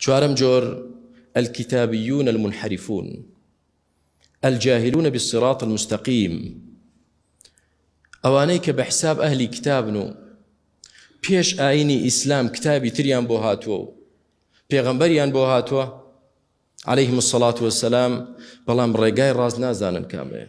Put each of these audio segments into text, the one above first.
چوارەم جۆر، الکتابیون المنحرفون الجاهلون بالصراط المستقیم، ئەوانەی کە بە حساب ئەهلی کتابن و پێش ئاینی ئیسلام کتابی تریان بۆ هاتووە و پێغەمبەریان بۆ هاتووە عليهلەیهم الصلاة والسلام بەڵام ڕێگای ڕاست نازانن کامەیە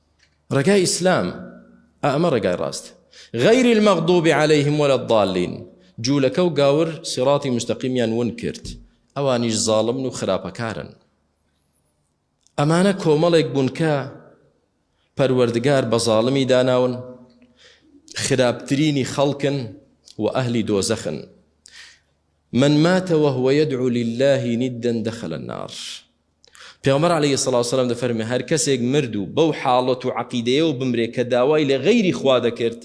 ڕێگای ئیسلام ئا ئەمە ڕێگای ڕاست غیر المغضوب علیهم ولا الضالین جوولەکە و گاور سیڕاتی مستەقیمیان ون کرد ئەوانیش زاڵمن و خراپەکارن ئەمانە کۆمەڵێک بوون کە پەروەردگار بە زاڵمی داناون خراپترینی خەڵکن و ئەهلی دۆزەخن من مات وهو یدعو للە ندا دخل النار پێغەمبەر علی صلی وسلام دەفەرمێ هەر کەسێک مرد و بەو حاڵەت و عەقیدەیەوە بمرێ کە داوای لە غەیری خوا دەکرد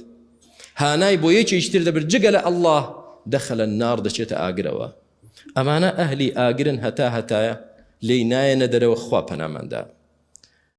هانای بۆ یەکێکی تر دەبرد جگە لە اللە دخل النار دەچێتە ئاگرەوە ئەمانە ئەهلی ئاگرن هەتا هەتایە لێی نایەنە دەرەوە خوا پەناماندا